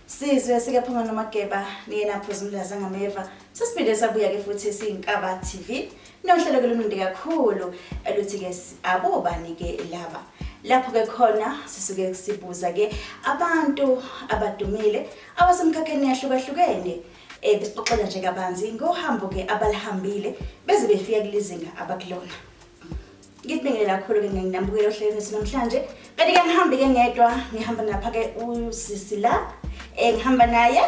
sizwe sike phuma nomageba niyena phuzumlazi angameva sesiphinde sabuya-ke futhi siyinkaba tv nohlelo ke lumnandi kakhulu eluthi-ke abobani-ke laba lapho-ke khona sisuke sibuza-ke abantu abadumile abasemkhakheni yahlukahlukene um eh, besixoxela nje kabanzi ngohambo-ke abalihambile beze befika kulizinga abakulona Ngikubingele kakhulu-ke nginambukela ohlelweni wethu namhlanje. Kanti-ke ngihambi-ke ngedwa, ngihamba napha-ke usisi la, um ngihamba naye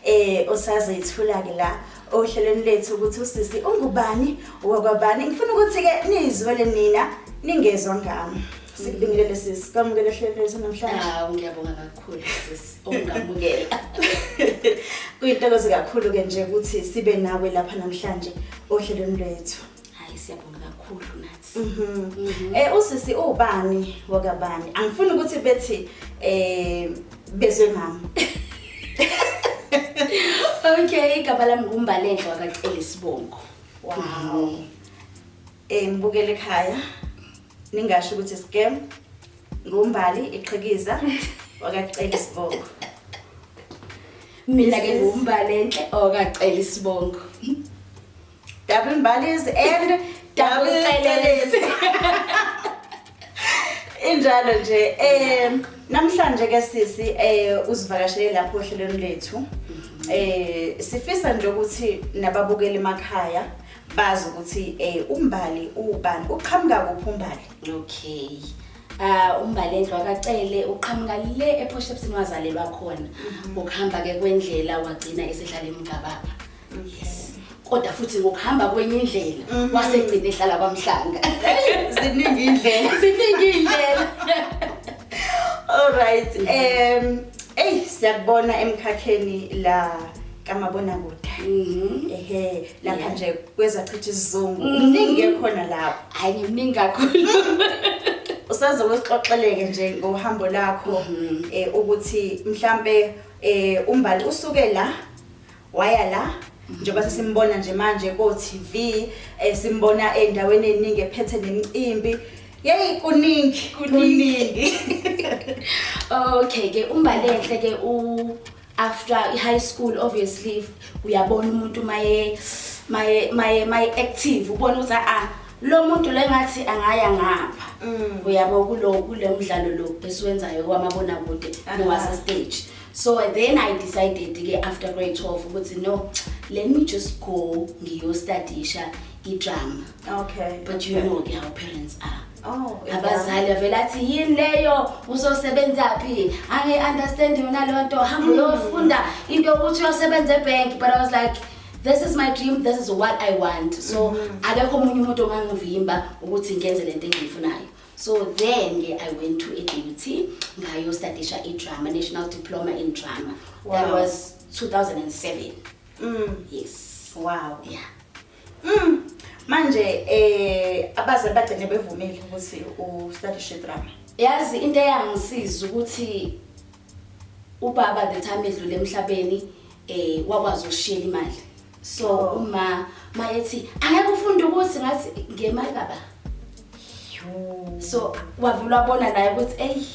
um osazethula-ke la ohlelweni lethu ukuthi usisi ungubani wakwabani. Ngifuna ukuthi-ke niyizwele nina ningezwa ngami. Sikubingelele sisi, kwamukele ohlelweni lethu namhlanje. Hawu ngiyabonga kakhulu sis ungamukela. Kuyintokozo kakhulu-ke nje ukuthi sibe nawe lapha namhlanje ohlelweni lwethu. Hayi siyabonga kakhulu nathi. Mhm. Mhm. Eh usisi ubani wakabani? Angifuni ukuthi bethi eh bezwe mama. Okay, igama lami ngumbalenhle wakacela isibongo. Wow. Eh ngibukele ekhaya. Ningasho ukuthi scam ngumbali iqhikiza wakacela isibongo. Mina ke Yes. ngumbalenhle okacela isibongo. Double Mbalis and Double Teles. Injalo nje eh namhlanje ke sisi eh uzivakashele lapho ohlelweni lethu. Eh sifisa nje ukuthi nababukeli emakhaya bazi ukuthi eh umbali ubani uqhamuka kuphi umbali. Okay. Uh umbali endlwa kacele uqhamuka le ePoshepsini wazalelwa khona. Mhm. Ukuhamba ke kwendlela wagcina esehlala emgababa. kodwa futhi ngokuhamba kwenye indlela mhm. wasegcina ehlala kwamhlanga ziningi indlela ziningi indlela alright um mhm. eyi siyakubona emkhakheni la kamabona kude mhm. ehe lapha nje kwezachitha isizungu mningi ekhona lapho hayi ngimningi kakhulu usaze wesixoxeleke nje ngohambo lakho um ukuthi mhlampe um umbali usuke la waya la njengoba sesimbona nje manje ko-TV eh, simbona endaweni eningi ephethe nemcimbi yeyi kuningi kuningi okay ke umbalenhle ke u after high school obviously uyabona umuntu maye maye maye maye active ubona ukuthi a lo muntu lengathi angaya ngapha mm. uyabo kulo kulo mdlalo lo esiwenzayo kwamabona kude nowase stage so then i decided ke after grade 12 ukuthi no let me just go ngiyostadisha idrama okay but okay. you know ke our parents are Oh, abazali avele athi yini leyo uzosebenza phi ange understand yona leyo nto hamba mm. uyofunda into ukuthi uyosebenza ebank but i was like this is my dream this is what i want so mm-hmm. akekho omunye umuntu ongangivimba ukuthi ngenze lento engiyifunayo so then ke i went to adut ngayostadisha idrama national diploma in drama wow. that was 2007 mm. yes wow yeah mm. manje eh abazali bagcine bevumile ukuthi ustadishe idrama yazi into eyangisiza ukuthi ubaba the time edlule emhlabeni eh wakwazi ukushiyela imali so uma mayethi angeke ufunde ukuthi ngathi ngemali baba so wavula wabona naye ukuthi eyi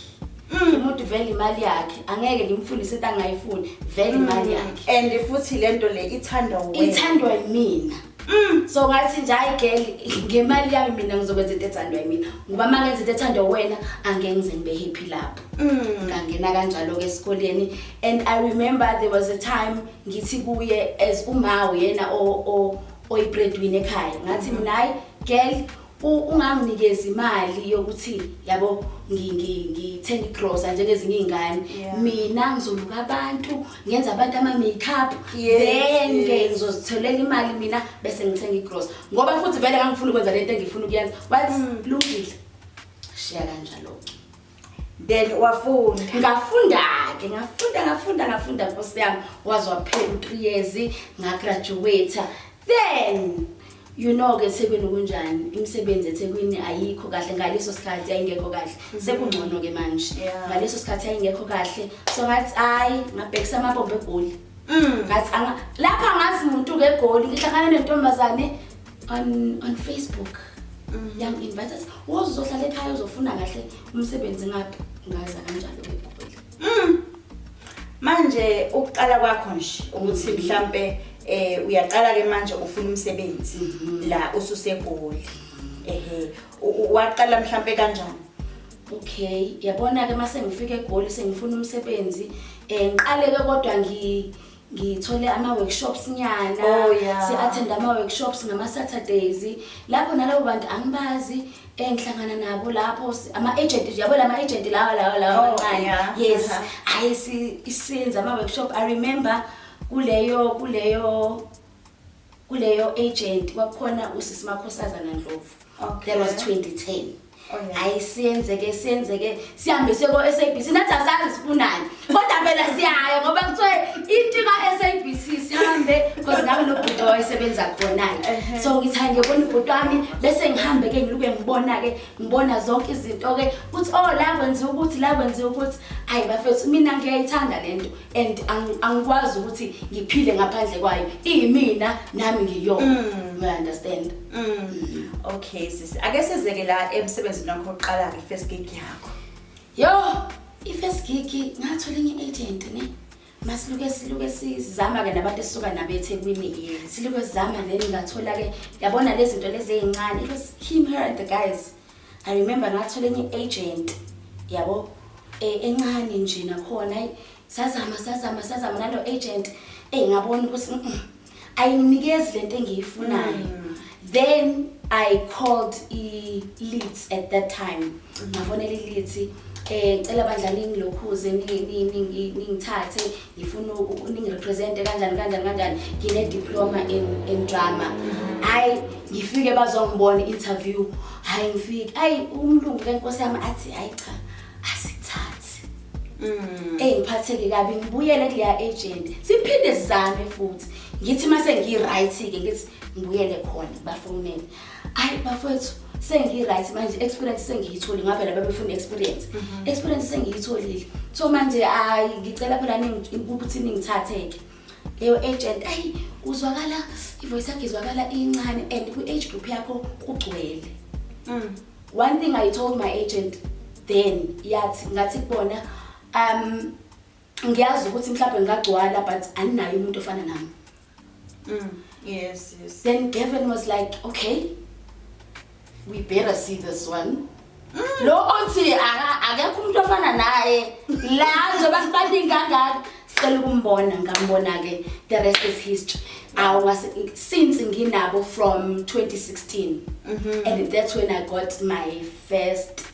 mm. umuntu vele imali yakhe angeke ngimfundise into angayifuni vele mm. imali yakhe and futhi le nto le ithandwa wena ithandwa yimina Mm. so ngathi nje hayi girl ngemali yami mina ngizokwenza into ethandwa yimina ngoba uma ngenza into ethandwa wena angeke ngize ngibe happy lapho mm. ngangena kanjalo-ke esikoleni and i remember there was a time ngithi kuye as umawo yena oyibreadwin ekhaya ngathi mina hayi girl unganginikeza imali yokuthi yabo ngithenga igrosa njengezinye iy'ngane mina ngizoluka abantu ngenza abantu ama-makeup then ke ngizozitholela imali mina bese ngithenga igrosa ngoba futhi vele ngangifuna ukwenza le nto engifuna ukuyenza wathi mm. lungile shiya kanjalo-ke then wafunda ngafunda-ke ngafunda ngafunda ngafunda nkosi yami waze waphela u-three years ngagraduwata then you know-ke ethekwini kunjani imisebenzi ethekwini ayikho kahle ngaleso sikhathi yayingekho kahle mhm. sekungcono-ke manje ngaleso sikhathi yayingekho kahle so ngathi hhayi ngabhekisa amabombo egoli mm. ngathi lapha ngazi muntu-ke egoli ngihlangane nentombazane on on Facebook mm. yang invite us wozohlala ekhaya uzofuna kahle umsebenzi ngapi ngaza kanjalo ngikubona mm. manje ukuqala kwakho nje ukuthi mm-hmm. mhlambe eh uyaqala ke manje ufuna umsebenzi mm-hmm. la ususegoli mm-hmm. ehe waqala mhlambe kanjani okay yabona ke mase ngifike egoli sengifuna umsebenzi eh ngiqale ke kodwa ngi ngithole ama-workshops nyana oh, yeah. si-athenda ama-workshops ngama-saturdays lapho nalabo bantu angibazi engihlangana nabo lapho ama-agent yabo la ma-agent lawa lawa lawa oh, amancane yeah. yes hhayi uh -huh. isinza ama-workshop i remember kuleyo kuleyo kuleyo agent kwakukhona usisi makhosazana ndlovu Okay. that was 2010 Oh, yeah. hayi siyenzeke siyenzeke sihambe siye ko-sabc nathi asazi sifunani kodwa phela siyaya ngoba kuthiwe into ka-sabc sihambe because nami nobhuti wayesebenza khona-ke so ngithi hayi ngiyobona ubhuti wami bese ngihambe-ke ngiluke ngibona-ke ngibona zonke izinto-ke kuthi o la kwenziwa ukuthi la kwenziwa ukuthi hayi bafethu mina ngiyayithanda le nto and ang- angikwazi ukuthi ngiphile ngaphandle kwayo iyimina nami ngiyona Mm. you understand Mm. Okay sisi. Ake sizeke la emsebenzini wakho oqala ke first gig yakho. yo i-first gig ngathola enye i-agent ne masiluke siluke sizama-ke nabantu esisuka nabo ethekwini Yes. siluke sizama then ngathola-ke yabona lezi zinto lezi eyincane it was him her and the guys I remember ngathola enye agent yabo eh, encane nje nakhona ayi sazama sazama sazama nalo agent eh ngabona ukuthi mm, mm, ayinikezi lento engiyifunayo Mm. then i called i leads at that time Mm. ngafonela i leads eh cela bandla ningilokhuze ni- ni- ningi- ningithathe ngifuna ningirepresente kanjani kanjani kanjani ngine-diploma in, in drama hhayi ngifike bazongibona i-interview hhayi ngifike hhayi umlungu lenkosi yami athi hhayi cha asithathi mm. eyi ngiphatheke kabi ngibuyele kuleya agent siphinde sizame futhi ngithi uma sengiyi-right-ke ngithi ngibuyele khona bafonele hayi bafowethu sengi-right manje experience sengiyitholi ngavela babefuna experience mhm. experience sengiyitholile so manje hayi ngicela phela ukuthi ningithatheke leyo agent ayi uzwakala ivoice yakhe izwakala incane and kwi-age group yakho kugcwele mm. one thing i told my agent then yathi ngathi kubona um ngiyazi ukuthi mhlawumbe ngingagcwala but aninayo umuntu ofana nami mm, yes yes then Gavin was like okay we better see this one mm. lo othi akekho umuntu ofana naye la njengoba sibaningi kangaka sicela ukumbona ngambona ke the rest is history I was since nginabo from 2016 mm -hmm. and that's when I got my first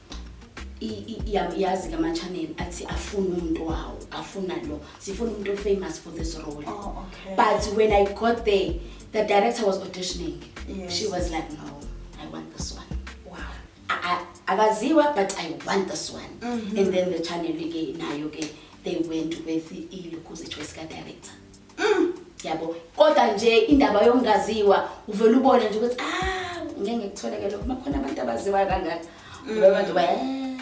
yazi ke ama-channel athi afuni umuntu wawo afuna lo sifuna umuntu ofamous for this role oh, okay. but when i got there the director was auditioning yes. she was like no i want this one akaziwa but i want this one mm -hmm. and then the channel ke nayo ke they went with ilukuzi choice ka-director Mm, yabo. Kodwa nje indaba yongaziwa uvela ubone nje ukuthi ah ngeke ngikutholeke lokho makhona abantu abaziwayo kangaka. Mm. Ngoba abantu baya eh.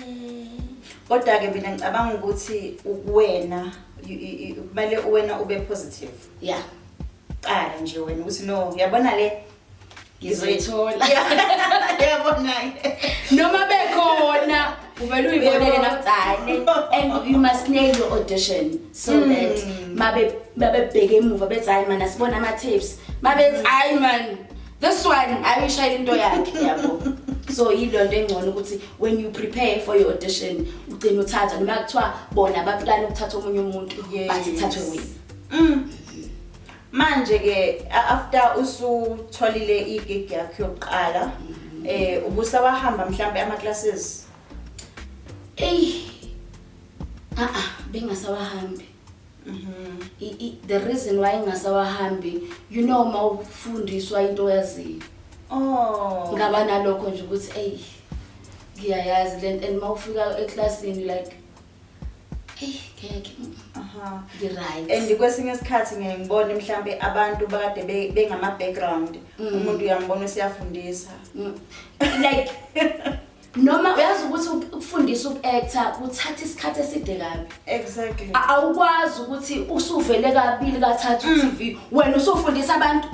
Kodwa ke mina ngicabanga ukuthi ukuwena kumele uwena ube positive. Yeah. Qala nje wena ukuthi no yabona le ngizoyithola yabona noma bekhona uvele uyibonele nakucane and you must nail your audition so mm. that mabe babebheke emuva bethi hayi man asibona ama tapes mabethi hayi man this one ayishayela into yakhe yabo so yilonto engcono ukuthi when you prepare for your audition ugcina uthatha noma kuthiwa bona baplana ukuthatha omunye umuntu but ithathwe wena mm. manje ke a- after usutholile igig yakho yokuqala eh ubusa wahamba mhlambe ama classes eyi a-a bengasawahambi Mhm. I- i- the reason why ngingasawahambi you know uma ufundiswa into oyaziyo oh ngaba nalokho nje ukuthi eyi ngiyayazi le nto and uma ufika eklasini like Eyi ngeke. Aha. Ngi-right. and kwesinye isikhathi ngeke ngibone mhlampe abantu bakade be- bengama-background Mm. umuntu uyambona usiyafundisa Mm. Like noma uyazi ukuthi uk- ukufundisa uku-actor kuthatha isikhathi eside kabi. exactly A- Awukwazi ukuthi usuvele kabili kathathu Mm. TV wena usufundisa abantu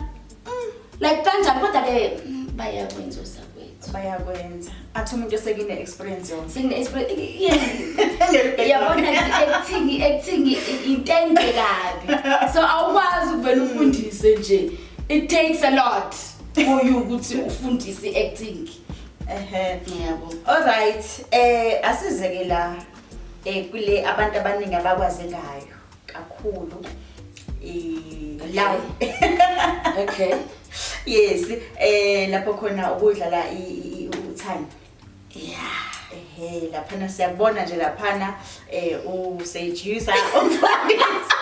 Mm, like kanjani kodwa ke mm, bayakwenza usakwethu. Bayakwenza. Athi umuntu osekine experience yona. Sekine experience. Yabona ekuthini ekuthini intende kabi. So awukwazi ukuvela ufundise nje. It takes a lot for you ukuthi ufundise acting. Ehhe. Ngiyabo. All right. Eh asizeke la eh kule abantu abaningi abakwazi ngayo. kakhulu la okay yes eh lapho khona ukudlala uthando yeah ehe laphana siyabona nje laphana eh u seducer umfundisi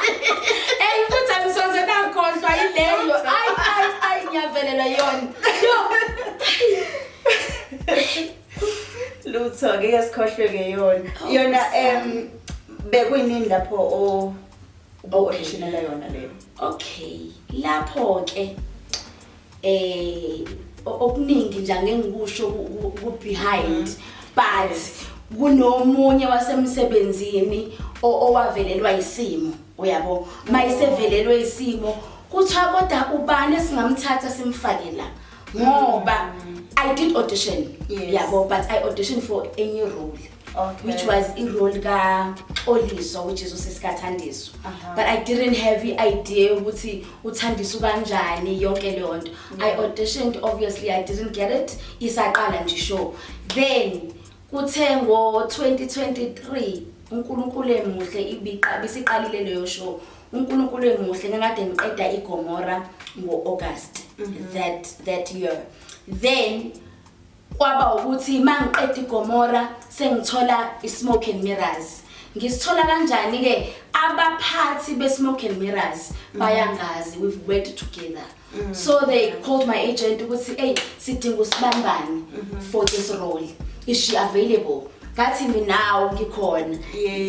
hey futhi angisoze nakhohlwa yileyo ay ay ay ngiyavelela yona lutho ngeke sikhohlweke yona oh, yona em bekuyinini lapho o auditionela yona leyo okay lapho ke eh okuningi nje angengikusho ku behind mm. but kunomunye wasemsebenzini owavelelwa isimo uyabo mayisevelelwe isimo kuthiwa kodwa ubani singamthatha simfake la ngoba i did audition yes. yabo but i audition for a new role okay. which was irole ka-oliso which is usesikathandiso uh -huh. but i didn't have i-idea ukuthi uthandiso kanjani yonke leyo nto yeah. i auditioned obviously i didn't get it isaqala nje show then kuthe ngo-2023 unkulunkulu emuhle ibiqa bisiqalile leyo show unkulunkulu engimuhle ngingade ngiqeda igomora ngo-august mhm. that, that year then kwaba ukuthi uma ngiqeda igomora sengithola i-smoke and mirrors ngisithola kanjani-ke abaphathi be-smoke and mirrors mhm. bayangazi we've worked together mm -hmm. Mm. so they called my agent ukuthi eyi sidinga usibambane mm-hmm. for this role is she available ngathi minawo ngikhona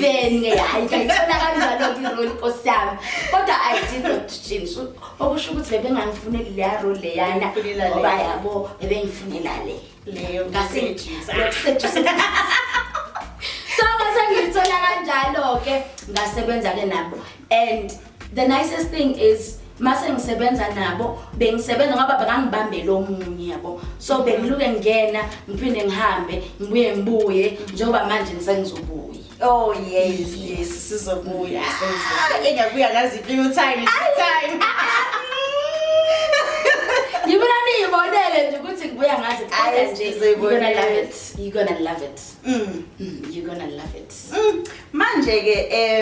then hayi ngayithola kanjalo ngirole inkosi yami kodwa i did not change okusho ukuthi bebengangifuneli leya role leyana ngoba yabo bebengifunela le leyo ngaseduze so ngase ngiyithola kanjalo-ke ngasebenza-ke nabo and The nicest thing is mase ngisebenza nabo bengisebenza ngoba bengangibambele omunye yabo so bengiluke ngena ngiphinde ngihambe ngibuye ngibuye njengoba manje ngisengizobuya Oh yes yes sizobuya ah, engabuya ngazi few time time Ngibona niyibonele nje ukuthi ngibuya ngazi kodwa nje you're gonna love it you're gonna love it mm, mm you're gonna love it mm. manje ke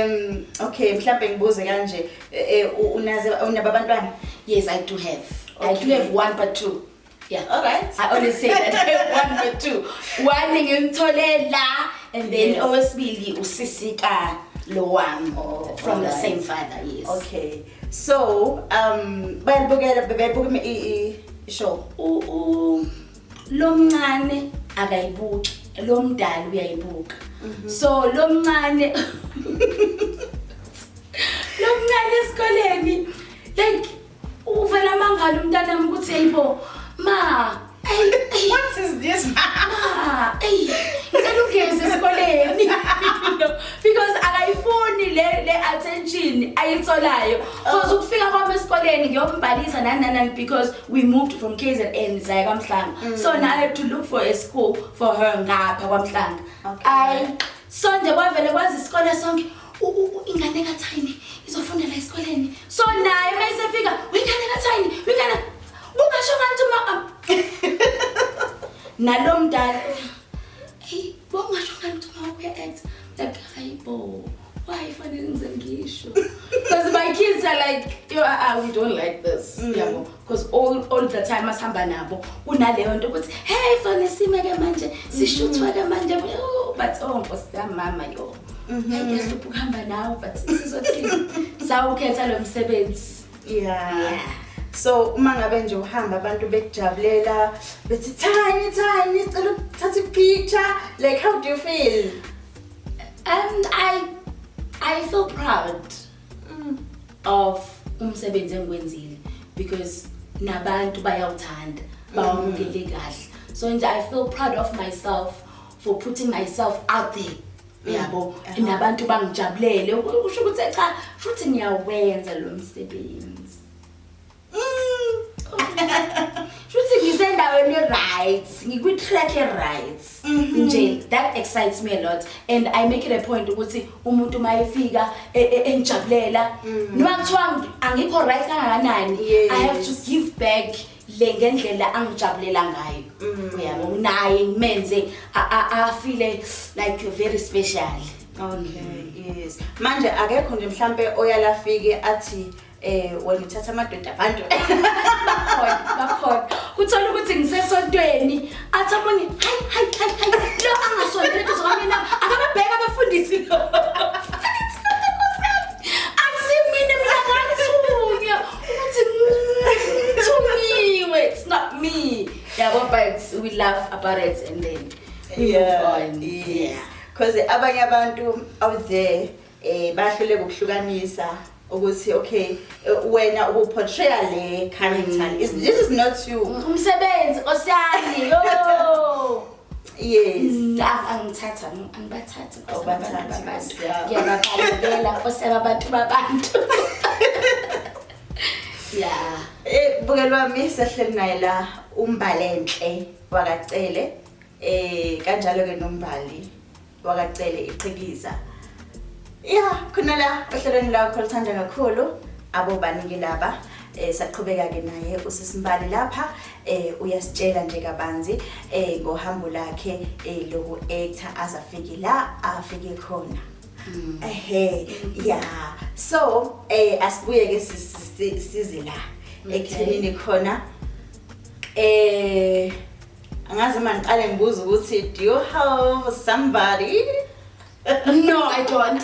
um okay mhlawumbe ngibuze kanje eh, u- unaze unaba abantwana Yes, I do have. I do Okay. have one but two. Yeah. all right I always say that I have one but two. One ngimthole la and then Yes. owesibili usisi ka lo wami Oh, from the alright. same father. Yes. okay so um bayalibukela bebebuka i- i- i- show U- u- lomncane akayibuki lomdala uyayibuka mhm. so lomncane lomncane esikoleni like uvela mangalo umntanami ukuthi ayibo ma what is this ma ey ngicela ugeze esikoleni because akayifuni le le attention ayitholayo because oh. ukufika kwami esikoleni ngiyombhalisa nananani because we moved from kzn saya kwamhlanga mm. so now i have to look for a school for her ngapha kwamhlanga okay. i so nje kwavele kwazi isikole sonke ingane kathayini izofundela esikoleni so naye uma isefika wingane kathayini wingane kungasho ngathi uma nalo mdala Bongasho ngani ukuthi uma ukuya act like hayibo why fanele ngize ngisho because my kids are like yo ah, ah we don't like this mm. yabo because all all the time asihamba nabo kunaleyo nto ukuthi hey fanele sime ke manje sishuthwa ke manje oh, but oh nkosi yami mama yo mm-hmm. ngeke siphuhamba nawe but sizothini sawukhetha lo msebenzi yeah. yeah. so uma ngabe nje uhamba abantu bekujabulela bethi tiny tiny sicela ukuthatha ipicture like how do you feel um i i feel proud mm. of umsebenzi engiwenzile because nabantu bayawuthanda bawamukele kahle so nje i feel proud of myself for putting myself out there yabo nabantu bangijabulele usho ukuthi cha futhi ngiyawenza lo msebenzi mm. futhi ngisendaweni right ngikwi track e right mhm. nje that excites me a lot and i make it a point ukuthi umuntu mayefika e, e, engijabulela mm. noma kuthiwa angikho right kangakanani i have to give back le ngendlela angijabulela ngayo mm. uyabo nginaye ngimenze afile like you're very special okay mm. yes manje akekho nje mhlampe oyalafike athi eh wena uthatha amadoda abantu bakhona kuthola ukuthi ngisesontweni athi abone hayi hayi hayi lo angasondele kuzo mina akababheka abafundisi lo Uthi "Mm, to me, wait, it's not me. Yeah, but, but we laugh about it and then we move on. Yeah. Because abanye abantu out there eh bahluleka ukuhlukanisa ukuthi okay eh, wena ubuportraya le character. Is- This is not you. Umsebenzi osiyani. Yo. Yes. Angithatha angibathathi ngiyababalekela nkosi yababantu babantu. Yeah. Eh buke lwami sehleli naye la umbalenhle wakacele eh kanjalo ke nombali wakaCele iqhikiza ya khona la ohlelweni lakho lithanda kakhulu abobanike laba eh saqhubeka-ke naye usisimbali lapha eh uyasitshela nje kabanzi eh ngohambo lakhe eh loku-actor aze afike la afike khona mm. ehe ya so eh asibuye-ke size la ekuthenini khona eh angazi uma ngiqale ngibuza ukuthi do you have somebody no i don't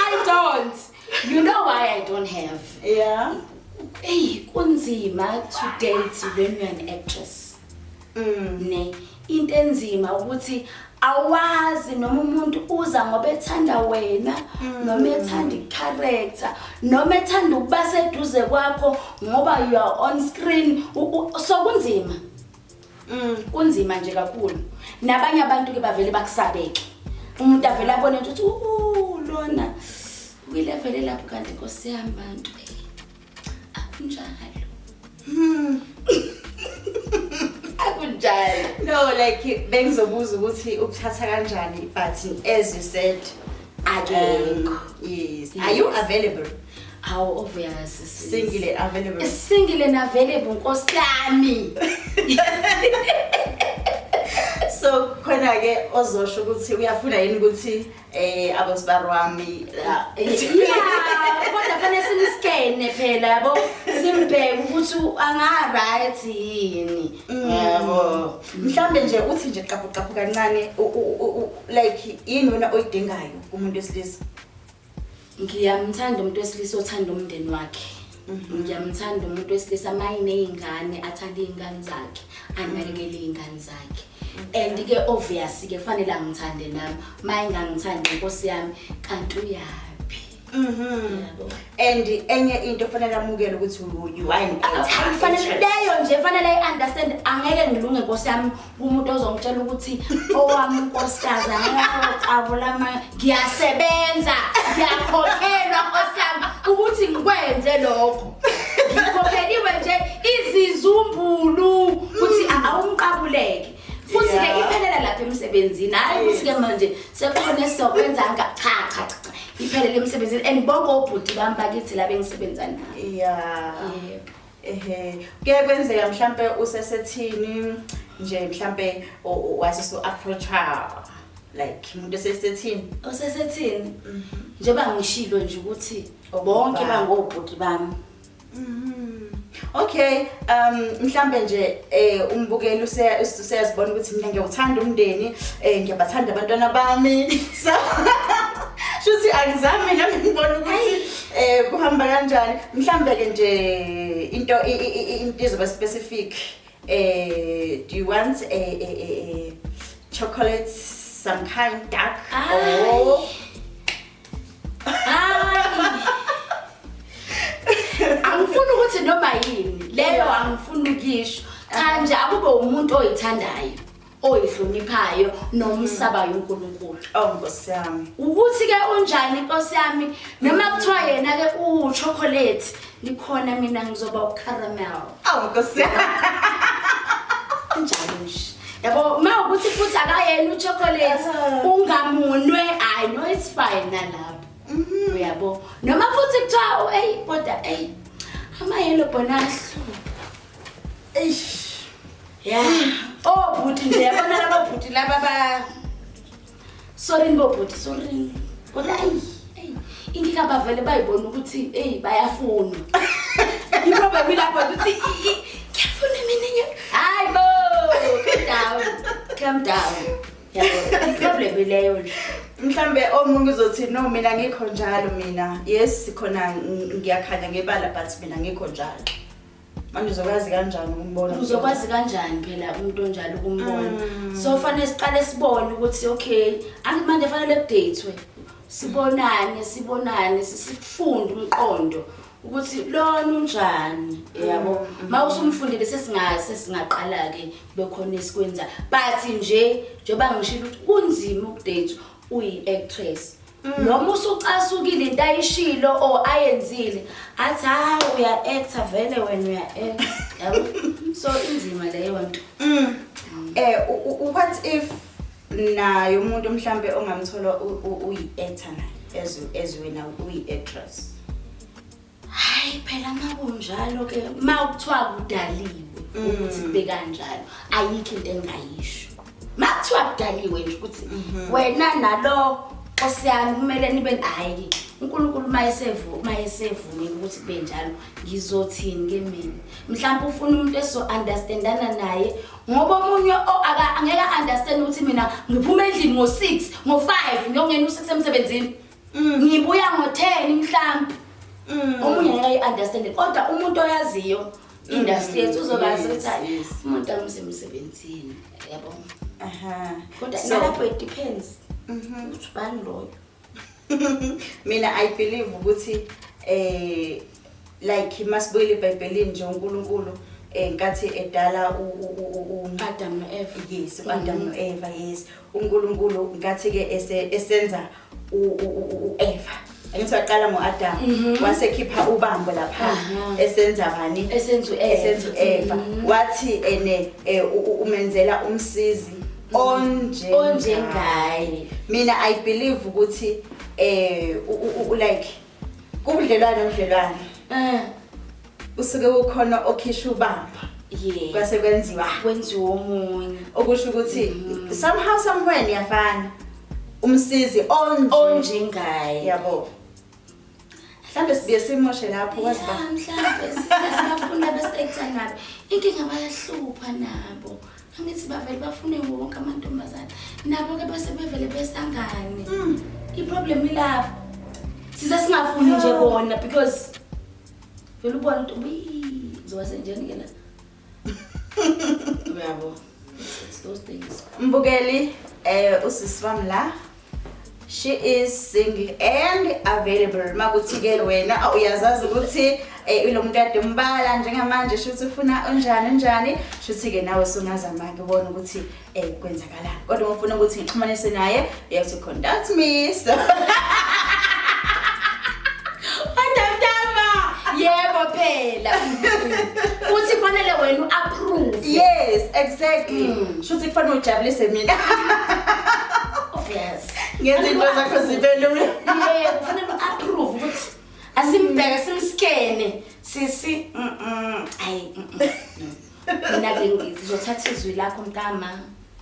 i don't you know why i don't have yeah eyi kunzima to date when you're an actress mm. ne into enzima ukuthi awazi noma umuntu uza ngoba ethanda wena noma mm. ethanda icharacter noma ethanda ukuba seduze kwakho ngoba you are on screen so kunzima mm. kunzima nje kakhulu nabanye abantu ke bavele bakusabeke umuntu avele abone ukuthi lona kwilevel elapho kanti nkosi yami bantu Akunjalo. Hmm. Akunjalo. No like bengizobuza ukuthi ukuthatha kanjani but as you said akekho. Um, yes. yes. Are you available? How obvious single and available. Single and available nkosi yami. so khona ke ozosho ukuthi uyafuna yini ukuthi Eh abosibari wami la. Yeah, kodwa fanele simskene phela yabo simbheke ukuthi u- anga right yini. Yabo. Mhlambe nje uthi nje qaphu qaphu kancane u- u- u- u- like yini wena oyidingayo kumuntu wesilisa. ngiyamthanda umuntu wesilisa othanda umndeni wakhe mhm. ngiyamthanda umuntu wesilisa mayine iy'ngane athanda iy'ngane zakhe anakekele iy'ngane zakhe and-ke obvious-ke kufanele angithande nami ma engangithandi nkosi yami kanti uyaphi Mhm. And enye into fanele amukele ukuthi uyiwine. Fanele leyo nje fanele i understand angeke ngilunge nkosi yami umuntu ozongitshela ukuthi owami unkosikazi angayoqabula ama ngiyasebenza ngiyakhokhelwa nkosiyami ukuthi ngikwenze lokho ngikhokheliwe nje izizumbulu ukuthi awumqabuleke futhi ke iphelela lapha emsebenzini hayi ukuthi ke manje sekukhona esizokwenza nga cha cha cha iphelele emsebenzini and bonke obhuti bami bakithi la bengisebenza nabo yeah yebo ehe kuye kwenzeka mhlampe usesethini nje mhlampe wathi so approacha like umuntu esesethini osesethini mhm. njengoba ngishilo nje ukuthi bonke bangobhuti bami mhm. Okay, um mhlambe nje eh umbukeli useyazibona ukuthi mina ngiyawuthanda umndeni, eh ngiyabathanda abantwana bami. So shuthi angizami nami ngibona ukuthi Eh kuhamba kanjani? Mhlambe ke nje into into izoba specific. Eh do you want a a a chocolate some kind dark or Angifuni ukuthi noma yini leyo angifuni ukisho. Cha nje akube umuntu oyithandayo. oyihloniphayo nomsabayo uNkulunkulu. Oh Nkosi yami. Ukuthi ke unjani Nkosi yami noma kuthiwa yena ke u chocolate nikhona mina ngizoba u caramel. Oh Nkosi yami. Unjani nje? Yabo ma ukuthi futhi akayena u chocolate ungamunwe I know it's fine nalapho. Mhm. Uyabo. Noma futhi kuthiwa hey kodwa hey ama yellow bonahlu. Eish. ya obhuti oh, nje yabona laba bhuti laba ba sorini bobhuti sorini kodwa ayi inkinga bavele bayibona ukuthi eyi bayafunwa iproblem ilapho ukuthi kuyafuna mina nye hayi bo calm down calm down iproblem ileyo nje mhlambe omunye uzothi no mina ngikho njalo mina yes khona ngiyakhanya ngebala but mina ngikho njalo manje uzokwazi kanjani ukumbona uzokwazi kanjani phela umuntu onjalo ukumbona mm. so fanele siqale sibone ukuthi okay angithi manje fanele kudeyithwe sibonane sibonane sifunde umqondo ukuthi lona unjani yabo mm. ma usumfundile sesingase singaqala ke bekhona esikwenza but nje njoba ngishilo ukuthi kunzima ukudate uyi actress noma usucasukile into ayishilo or ayenzile athi hayi uya-acta vele wena uya-acta yabo so inzima leyo nto um what if naye umuntu mhlawumbe ongamthola uyi-acta naye as wena uyi-actress Hayi phela makunjalo ke ma ukuthiwa kudaliwe mm. ukuthi kube kanjalo ayikho into engayisho. Ma kuthiwa kudaliwe nje ukuthi mhm. wena nalo osiyami kumele nibe hayi uNkulunkulu mayesevu mayesevumile ukuthi kube njalo ngizothini ke mina mhlawumbe ufuna umuntu eso understandana naye ngoba omunye angeke understand ukuthi mina ngiphuma endlini ngo6 ngo5 ngiyongena u6 emsebenzini Mm. Ngibuya ngo 10 mhlambi. Mm. Omunye ngeke ayi understand kodwa umuntu oyaziyo mm. industry yethu uzobazi ukuthi umuntu amuse emsebenzini. Yabo. Aha. Kodwa nalapho it depends. Mhm. Uthi bani loyo? Mina I believe ukuthi eh like masibuyile eBhayibhelini nje uNkulunkulu eh nkathi edala uAdam noEva yes uAdam mm-hmm. noEva yes uNkulunkulu nkathi ke esenza u-eva angithi waqala ngo-adam mhm. wasekhipha ubambo lapha esenza bani esenza u-eva mhm. wathi ene eh, umenzela umsizi onjengaye mina i believe ukuthi um like kubudlelwane ubudlelwane eh. usuke ukhona okhisha ubamba yeah kwase kwenziwa kwenziwa omunye okusho ukuthi mm. somehow somewhere niyafana umsizi onje onje ngaye yabo mhlambe sibuye simoshe lapho kwazi ba mhlambe singafuna besekutha nabo inkinga bayahlupha nabo angithi bavele bafune wonke amantombazana nabo ke base bevele besangane mm. i problem ilapho size singafuni nje bona because Vele ubona ukuthi uyi zoba senjani ke la. Uyabo. It's those things. Mbukeli eh usisi wami la. She is single and available. Makuthi ke wena aw, uyazazi ukuthi eh lo muntu ade umbala njengamanje shuthi ufuna unjani unjani shuthi ke nawe sungazama ke ubona ukuthi Eh kwenzakala. Kodwa ngifuna ukuthi ngixhumanise naye, you have to contact me. So exactly mm. shuthi kufanele ujabulise mina obvious ngenza into zakho zibe lula yeah kufanele approve ukuthi asimbheke simskene sisi mm ayi mina ke ngizothatha izwi lakho mntama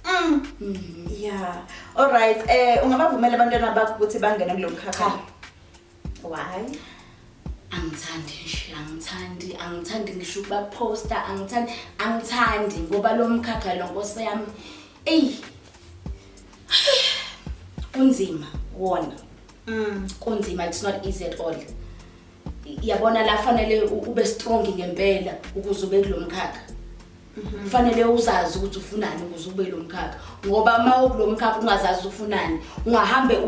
mm. mm-hmm. ya all right um eh, ungabavumela abantwana bakho ukuthi bangene kulo mkhakha why angithandi nje angithandi angithandi ngisho ukubaphosta angithandi angithandi ngoba lo mkhakha lo nkosi yami eyi kunzima wona mm. kunzima it's not easy at all yabona la fanele ube strong ngempela ukuze ube kulo mkhakha mhm. kufanele uzazi ukuthi ufunani ukuze ube lo mkhakha ngoba uma ukulo mkhakha ungazazi ufunani ungahambe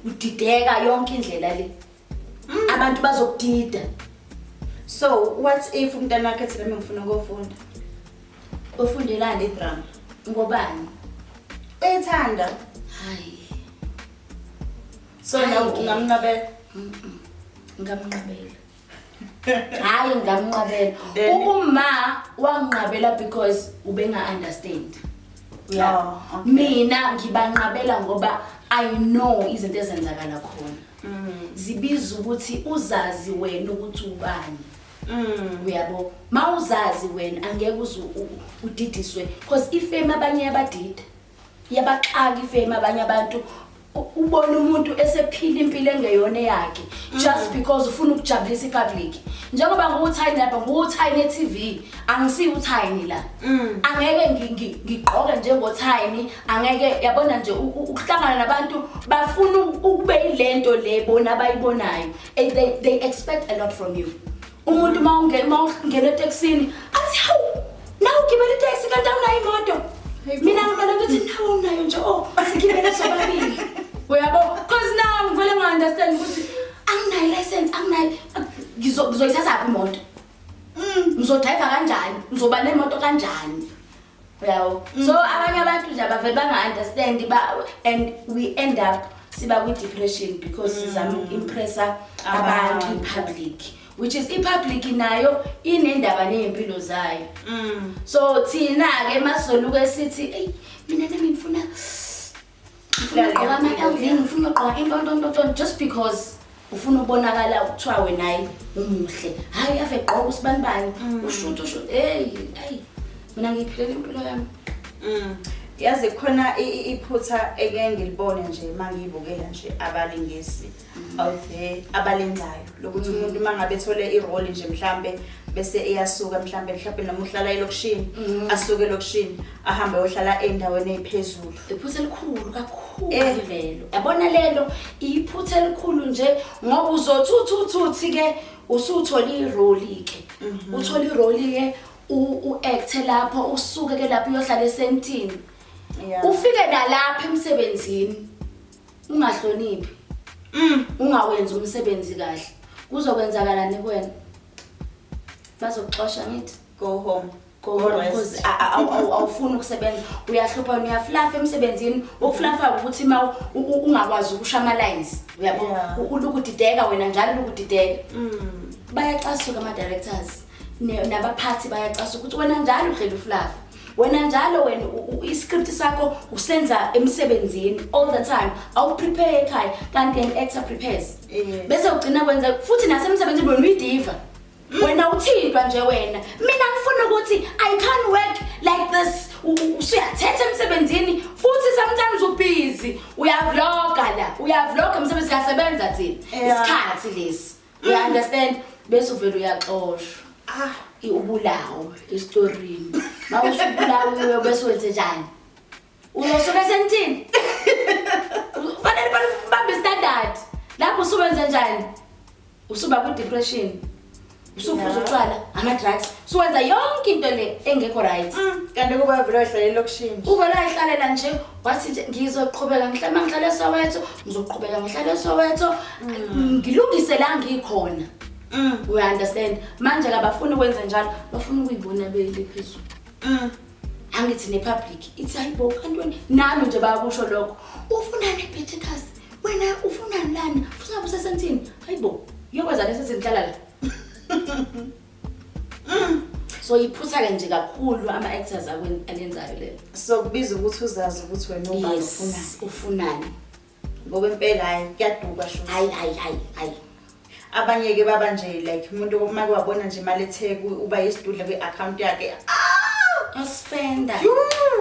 udideka yonke indlela le mm. abantu bazokudida so what if umntana wakhe thina mengifuna ukofunda ofundelani idrama ngobani uyithanda hayi so nawe ungamnqabela ngamnqabela hayi ngamnqabela ubuma wanginqabela because ubenga-understand ya oh, mina ngibanqabela ngoba i know izinto ezenzakala khona mm. zibiza ukuthi uzazi wena ukuthi ubani Mm. uyabo mawuzazi wena angeke uze udidiswe because ifame abanye yabadida yabaxaka ifame abanye abantu ubona umuntu esephila impilo engeyona yakhe just mm. because ufuna ukujabulisa ipublic njengoba nguwuthayini lapha nguwuthayini e-tv angisiyi uthayini la mm. angeke ngigqoke njengothayini angeke yabona nje ukuhlangana nabantu bafuna ukube yile nto le bona abayibonayo they, they expect a lot from you umuntu uma ungena uma ungena etekisini athi hawu nawe ugibela itekisi kanti awunayo imoto mina ngibona ukuthi nawe unayo nje o oh, sigibele sobabili uyabo cause now ngivele nga-understand ukuthi anginayo license anginayo ngizoyithathaphi imoto mm. ngizodrayiva kanjani ngizoba nemoto kanjani yabo mm. so abanye abantu nje abavele banga-understand and we end up siba kwi-depression because mm. sizama uku-impressa abantu i-public which is i-public nayo inendaba ney'mpilo zayo mm. so thina-ke masizoluke sithi eyi mina nami ngifuna ngifuna ugqoka ama-lv ngifuna ugqoka intontontonton just because ufuna ubonakala kuthiwa wenayi umuhle hhayi ave gqoka usibani bani mm. ushuthi usho eyi ayi mina ngiyiphilela impilo yami mm. yazi khona iphutha eke ngilibone nje uma ngiyibukela nje abalingisi ave abalenzayo lokuthi mm. umuntu uma ngabe ethole iroli nje mhlampe bese eyasuka mhlampe mhlampe noma uhlala elokishini mm. asuke elokishini ahambe ohlala endaweni ephezulu iphutha elikhulu kakhulu eh. lelo yabona lelo iphutha elikhulu nje ngoba uzothuthuthi ke usuthola iroli ke mhm. uthola iroli ke u act lapho usuke ke lapho uyohlala esentini ufike nalapha emsebenzini ungahloniphi mm. ungawenzi umsebenzi kahle kuzokwenzakalani kuwena bazokuxosha ngithi go home awufuni ukusebenza uyahlupha wena uyaflafa emsebenzini ukuflafa ukuthi ma ungakwazi ukusha ama-lines uyabo ulukudideka wena njalo ulukudideka mm. bayacasuka ama-directors nabaphathi bayacasuka ukuthi wena njalo uhlela uflafa wena njalo wena iscript sakho usenza emsebenzini all the time awuprepare ekhaya kanti an actor prepares bese ugcina kwenza futhi nasemsebenzini wena uyidiva hmm. wena uthintwa nje wena mina ngifuna ukuthi i can't work like this usuyathetha emsebenzini futhi sometimes ubhizi uyavloga la uyavloga umsebenzi kasebenza thina isikhathi lesi You understand? Bese uvele uyaxoshwa. Ah, i- ubulawo esitorini. Uma usubulawiwe bese wenze njani? Uzosuke senithini? Kufanele bal- bambe standard. Lapho usuwenze njani? Usuba ku depression. Usuphuza utshwala, ama drugs. Suwenza yonke into le engekho right. Mm, kanti kuba vele wahlalela okushini Uvela ihlalela nje wathi nje ngizoqhubeka ngihlale uma ngihlale esoweto ngizoqhubeka ngihlale esoweto mm. ngilungise la ngikhona mm. we understand manje kabafuni ukwenza njalo bafuna ukuyibona beyile phezulu mm. angithi nepublic ithi hayi bo kantoni nami nje bayakusho lokho ufunani ebetitas wena ufunani lana funa busesentini hayi bo uyokwenza leso zinhlala la Mm. So iphutha ke nje kakhulu ama actors akweni alenzayo lelo. So kubiza ukuthi uzazi ukuthi wena ubani ufuna ufunani. Ngoba impela hayi kuyaduka sho. Hayi hayi hayi hayi. Abanye ke baba nje like umuntu uma kwabona nje imali etheku uba yisidudla kwi account yakhe. Ah! Uspenda.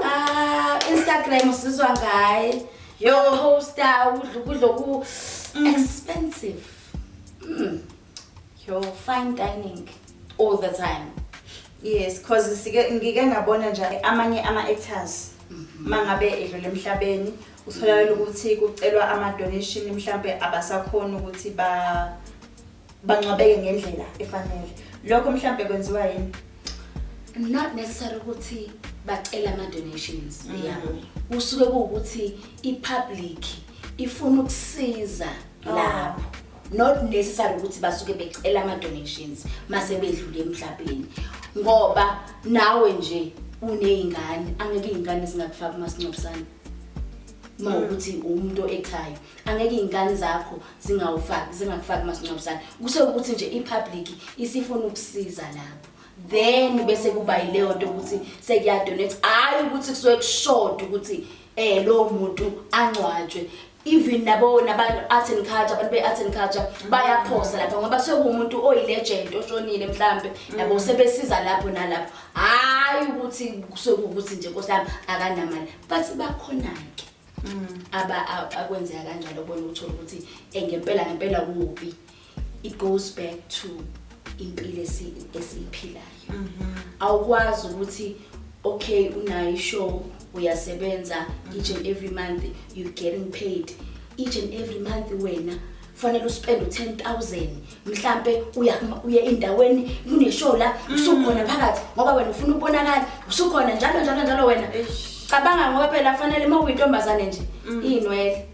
Ah, Instagram usizwa ngaye. Yo poster udla ukudla ku mm. expensive. Mm. Yo, fine dining all the time. Yes, cause sike ngike ngabona nje amanye ama actors mhm. mangabe edlule emhlabeni utholakala ukuthi kucelwa ama donation mhlambe abasakhona ukuthi ba bangcwabeke ngendlela efanele. Lokho mhlambe kwenziwa yini? Not necessary ukuthi bacela ama donations mhm. yabo. Usuke ukuthi i public ifuna ukusiza ah. lapho. not necessary ukuthi basuke becela ama-donations mase bedlule emhlabeni ngoba nawe nje uney'ngane angeke iy'ngane zingakufaki umasingcwabisane uma mm. ukuthi umuntu ekhaya angeke iy'ngane zakho zingawufaki zingakufaki umasingcwabisane kuse ukuthi nje i-public isifuna ukusiza lapho then bese kuba yileyo nto ukuthi sekuyadonate hhayi ukuthi kusuke kushoda ukuthi um lowo muntu angcwatshwe even nabo nabantu art and culture abantu be art and culture bayaphosa lapha ngoba sekumuntu oyilegend oshonile mhlambe yabo mm. sebesiza lapho nalapho hayi ukuthi sokukuthi nje nkosami akanamali bathi bakhona ke mm. aba akwenzeka kanjalo bona uthola ukuthi eh, ngempela ngempela kuphi it goes back to impilo esiyiphilayo mhm. awukwazi ukuthi okay unayo ishow uyasebenza each and every month you getting paid each and every month wena fanele uspend u10000 mhlambe uya uye endaweni kuneshow la mm. usukhona phakathi ngoba wena ufuna ukubonakala usukhona njalo njalo njalo wena cabanga ngoba phela fanele uma uyintombazane nje mm. inwele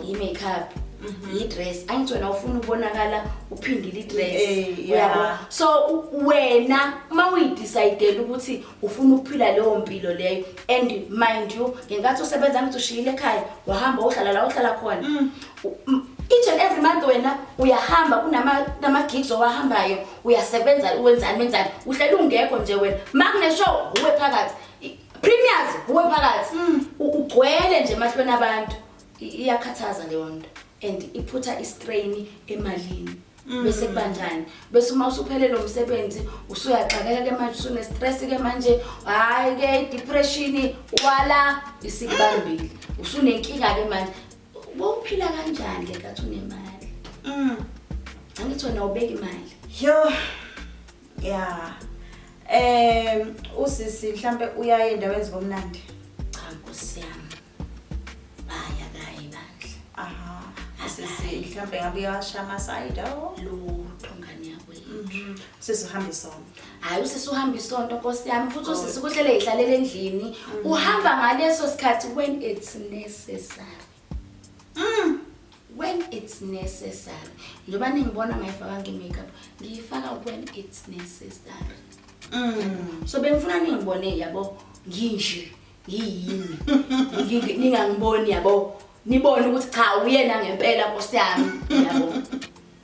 yi-makeup mhm. yi-dress angithi wena ufuna ukubonakala uphindile i-dress eh, yabo so wena uma uyidicayidele ukuthi ufuna ukuphila leyo mpilo leyo and mind you ngenkathi usebenza ngithi ushiyile ekhaya wahamba wohlala la wohlala khona mm. each and every month wena uyahamba kunama-gigs owahambayo uyasebenza wenzani wenzani uhlele ungekho nje wena ma kuneshow uwe phakathi Premiers uwe phakathi mm. ugcwele nje emahlweni abantu iyakhathaza leyo nto and iphutha istrain emalini mm. bese kubanjani bese uma usuphele lo msebenzi usuyaxakeka ke manje usunestress ke manje hayi ke depression wala isikubambile usunenkinga ke manje bowuphila kanjani ke kathi unemali mm angithi wena ubeka imali yo Yeah. Eh usisi mhlambe uyaye endaweni zibomnandi. Cha nkosi yami. Baya kayi bandla. Aha. Sisi mhlambe ngabe uyawasha ama side awo. Lutho ngani yakwethu. Mhm. Sisi uhambe isonto. Hayi usisi uhamba isonto nkosi yami futhi usisi kuhlele ihlalela endlini. Uhamba ngaleso sikhathi when it's necessary. Mm, when it's necessary. Njoba ningibona ngayifaka nge makeup, ngiyifaka when it's necessary. Mm. So bengifuna ningibone yabo nginje ngiyini. Ngi- Ningangiboni yabo. Nibone ukuthi cha uyena ngempela Nkosi yami yabo.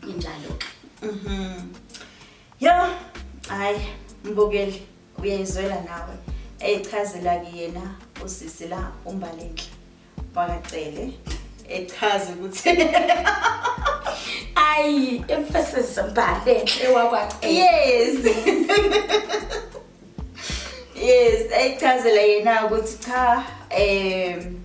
Injalo ke. Mhm. Yo, hayi mbukeli uyayizwela nawe. Eyichazela ke yena usisi la umbalenhle. wakacele echaze ukuthi ayi emphasis mbale enhle wakwacele yes yes eyichazela yena ukuthi cha um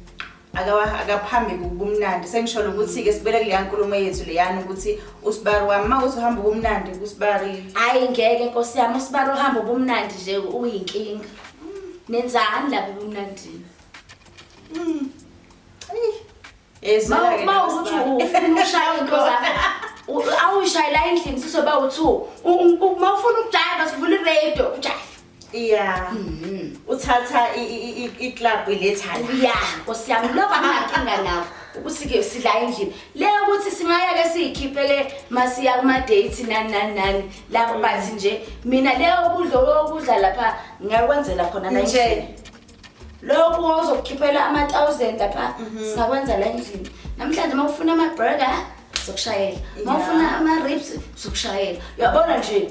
akaphambi kubumnandi sengisholo ukuthi-ke sibele kuleya nkulumo yethu leyana ukuthi usibari wami uma kuthi uhamba ubumnandi kusibari hhayi ngeke nkosi yami usibari uhamba ubumnandi nje uyinkinga nenzani lapha ebumnandini Mm. Ma ukuthi ufuna ushaya into zakho awuyishayela endlini sizoba u-two uma ufuna ukujayela sivula iradio ujaye ya mm-hmm. uthatha iclub ilethala ya nkosi yami lokho anginankinga nakho ukuthi-ke sidla endlini le ukuthi singaya-ke siyikhiphe le masiya kuma-date nani nani nani lapho mm. bathi nje mina le okudla okudla lapha ngingakwenzela khona nje lokhu wawuzokukhiphela ama-thousand apha mhm. singakwenza la endlini namhlanje uma ufuna ama-burger zokushayela uma ufuna ama-rips zokushayela uyabona nje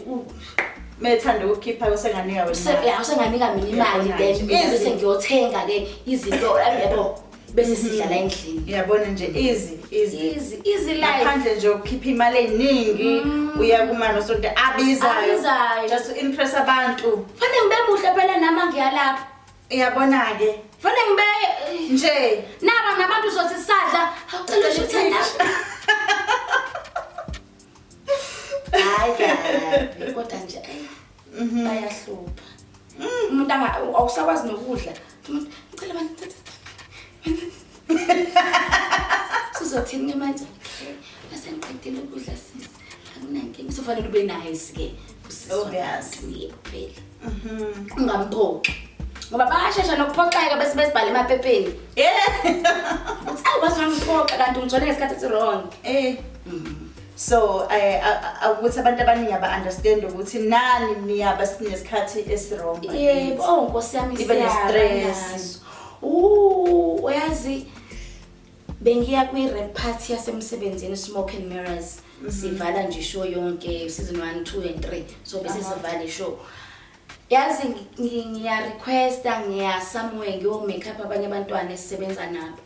methanda ukukhipha usenganika wena usenganika mina imali then bese ngiyothenga ke izinto yabo bese sidlala endlini uyabona nje easy easy easy easy life ngaphandle nje ukhipha imali eningi mm. uya kumani osonto abizayo abizayo just to impress abantu fanele ngibe muhle phela nama ngiyalapha uyabona ke fanele ngibe eh, nje naba nabantu uzothi sadla awucela usho uthanda hayi kodwa nje Mhm. bayahlupha umuntu anga- awusakwazi nokudla umuntu ngicela mani sizothini ke manje okay base ngiqedile ukudla sisi akunankinga sofanele ube nice ke Obvious. uyephela Mhm. ungamphoxi ngoba bayashesha nokuphoxeka bese besibhale emaphepheni Yeah. ukuthi awu base ungamphoxa kanti ungithole ngesikhathi esi-wrong Eh. so eh, a- a- a- ukuthi abantu abaningi aba-understand ukuthi nani niyaba sinesikhathi esirongo yebo oh nkosi yami Ibe siyaba ne-stress. naso. Ooh, uyazi bengiya kwi-rap party yasemsebenzini smoke and mirrors sivala nje show yonke season 1 2 and 3 so bese sivale show Yazi ngi- ngiya requesta ngiya somewhere ngiyo make up abanye abantwana esisebenza nabo.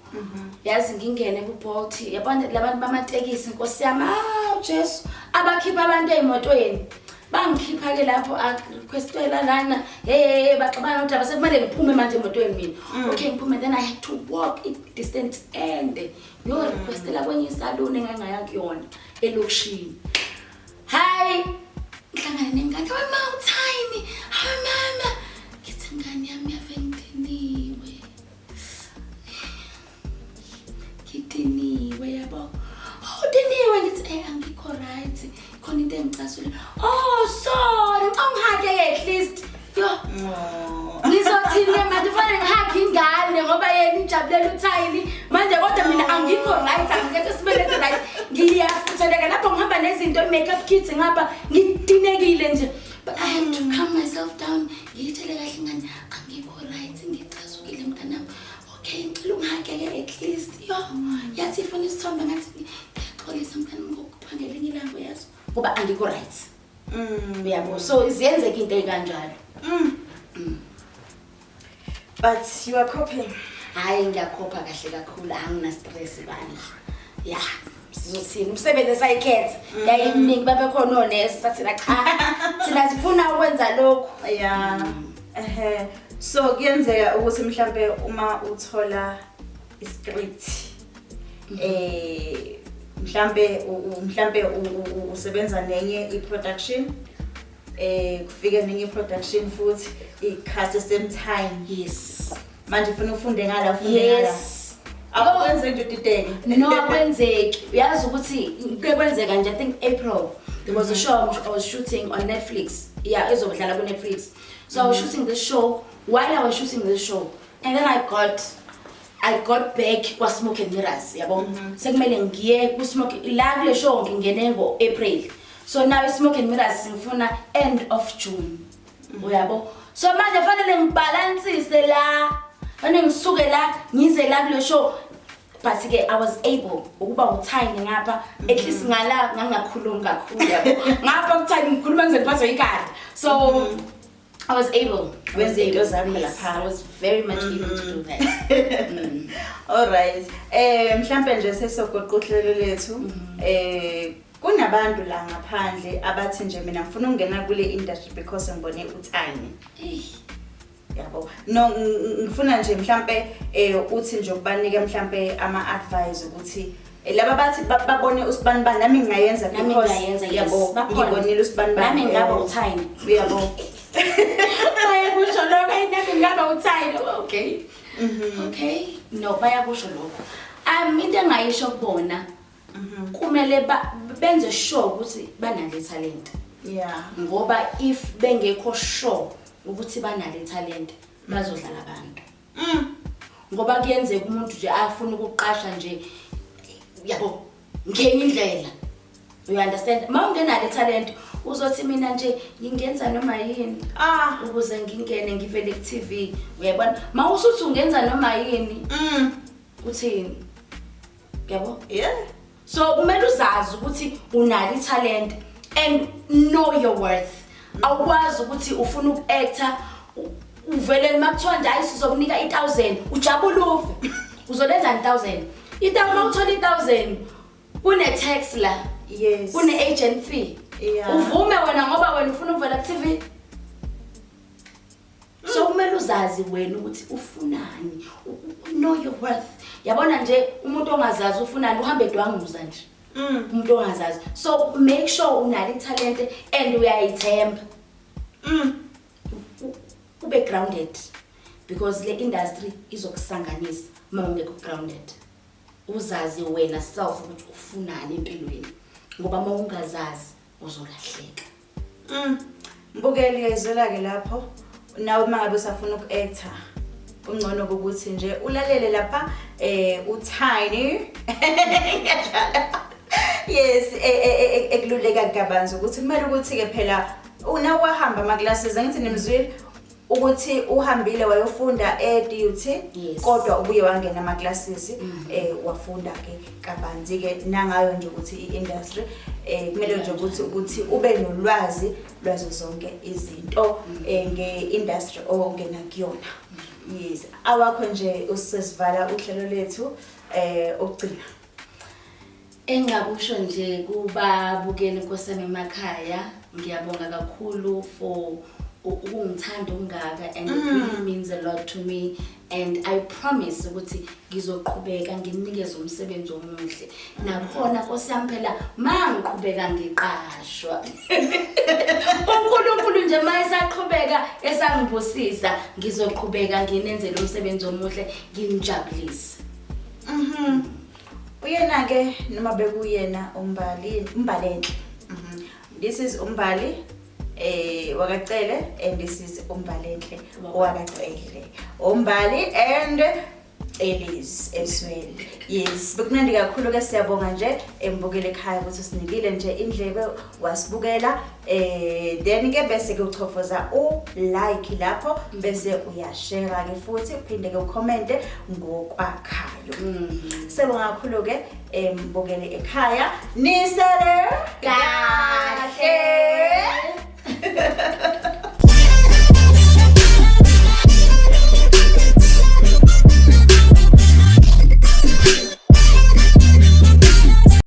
Yazi ngingene ku Bolt yabona labantu bamatekisi Nkosi yami ah Jesu abakhipha abantu ezimotweni. Bangikhipha ke lapho a requestela lana hey hey hey, baxabana ukuthi abasekumele ngiphume manje emotweni mina. Okay ngiphume then I had to walk i distance ende. Ngiyo requestela kwenye salon engangaya kuyona elokishini. Hi. Ngihlangane nengane we mom tiny. Hi mama. Ngithi ngane yami yavenginiwe. Ngidiniwe yabo. Oh diniwe ngithi eh angikho right. Khona into engicasule. Oh sorry. Ngicongihake at least. Yo. Ngizothini ke manje kufanele ngihage ingane ngoba yena ijabulela uthayini manje kodwa mina angikho right angikho sibelethe right ngiyafutheleka lapho ngihamba nezinto i-makeup kits ngapha ngidinekile nje but I had to calm myself down ngiyithele kahle ingane angikho right ngicasukile mntanami okay ngicela ungihageke at least yo yathi ifuna isithombe ngathi ngiyaxolisa mntanami ngokuphangela enye ilanga uyazi ngoba angikho right Mm, yabo so ziyenzeka into ekanjalo. Mm. Mm. But you are copying. Hayi ngiyakhopha kahle kakhulu angina stress bandla. Yeah. Sizothini umsebenzi esayikhetha. Mm. Yayiminingi babe khona onesi sathina cha. Thina sifuna ukwenza lokho. Yeah. Mm. Ehhe. So kuyenzeka ukuthi mhlambe uma uthola i-script eh mhlambe mhlambe usebenza nenye i-production eh kufike nenye i-production futhi i-cast same time yes manje ufuna ufunde ngala ufunde ngala yes akwenze into dideke no akwenzeki uyazi ukuthi kuke kwenzeka nje i think april there was a show i was shooting on netflix yeah ezobudlala ku-netflix so i was mm-hmm. shooting this show while i was shooting this show and then i got i got back kwasmoke and mirrors yabo mm -hmm. sekumele ngiye kusmoke la kule show ngingene ngo-april so now ismoke and mirrors ngifuna end of june mm -hmm. uyabo so manje fanele ngibhalansise la fanele ngisuke la ngize la kule show but ke i was able ukuba uthayini ngapha at least mm-hmm. ngala ngangakhulumi kakhulu yabo ngapha kuthayini ngikhuluma ngize ngiphathwe ikati so mm -hmm. I was able. I was Wezinto able. zakho Yes, lapha. I was very much able to do that. Mm. Alright. Eh mhlambe nje sesogoqa uhlelo lethu. Mm-hmm. Eh kunabantu la ngaphandle abathi nje mina ngifuna ukungena kule industry because ngibone uThani. Eish. Yabo. No ng- ng- ngifuna nje mhlambe eh uthi nje ukubanike mhlambe ama advice ukuthi laba bathi babone usibanibani nami ngingayenza yabo ngibonile usibanibani nami ngingaba uthayini uyabo bayakusho lokho ayi nami ngingaba uthayini okay mhm. okay no bayakusho lokho um into engayisho kubona mhm. kumele benze sure ukuthi banale talent yeah ngoba if bengekho sure ukuthi banale talent bazodlala abantu Mm. Ngoba kuyenzeka umuntu nje afuna ukuqasha nje yabo ngenye indlela. You understand? Mawungenalo italent uzothi mina nje ngingenza noma yini. Ah, ukuze ngingene ngivele ku TV. Uyabona? Mawusuthi ungenza noma yini. Mm. Uthini? Yabo? Yeah. so kumele uzazi ukuthi unalo ithalente and know your worth awukwazi ukuthi ufuna uku-actor uvele noma kuthiwa nje hayi sizokunika i-thousand ujabule ufe uzolenzani i-thousand itawu uma uthola i-thousand kune-tax la yes kune-agent fee yeah. uvume wena ngoba wena ufuna ukuvela ku-tv so kumele uzazi wena ukuthi ufunani know your worth yabona nje umuntu ongazazi ufunani uhambe edwanguza nje mm. umuntu ongazazi so make sure unalo ithalente and uyayithemba mm. ube grounded because le industry izokusanganisa uma ungekho grounded uzazi wena self ukuthi ufunani empilweni ngoba uma ungazazi uzolahleka Mm. Mbukeli uyayizwela ke lapho nawe uma ngabe usafuna uku-actor kungcono ukuthi nje ulalele lapha eh uTiny ngiyadlala yes e, e, e, ekululeka kabanzi ukuthi kumele ukuthi ke phela una wahamba ama classes angithi nimzwile ukuthi uhambile wayofunda e-DUT yes. kodwa ubuye wangena ama-classes mm -hmm. eh, wafunda ke kabanzi-ke nangayo nje ukuthi i-industry eh, kumele nje ukuthi ukuthi ube nolwazi lwazo zonke izinto mm -hmm. eh, nge-industry ongena kuyona mm -hmm. yes awakho nje usesivala uhlelo lethu eh okugcina Engakusho nje kubabukeli nkosami emakhaya ngiyabonga kakhulu for ukungithanda okungaka and it really mm. means a lot to me and i promise ukuthi ngizoqhubeka nginikeze umsebenzi omuhle nakhona nkosi yami phela ma ngiqhubeka ngiqashwa unkulunkulu nje ma esaqhubeka esangibusisa ngizoqhubeka nginenzele umsebenzi omuhle nginijabulise mhm mm Uyena-ke noma bekuyena umbali umbalenhle Mhm. this is umbali eh wakacele and this is umbalenhle wakacele umbali and elis eswele yes bekumnandi kakhulu ke siyabonga nje embukele ekhaya ukuthi sinikile nje indlebe wasibukela eh then ke bese ke uchofoza u like lapho bese uyashare ke futhi uphinde ke ucommente ngokwakhayo mm. sebonga kakhulu ke embukele eh, ekhaya nisele kahle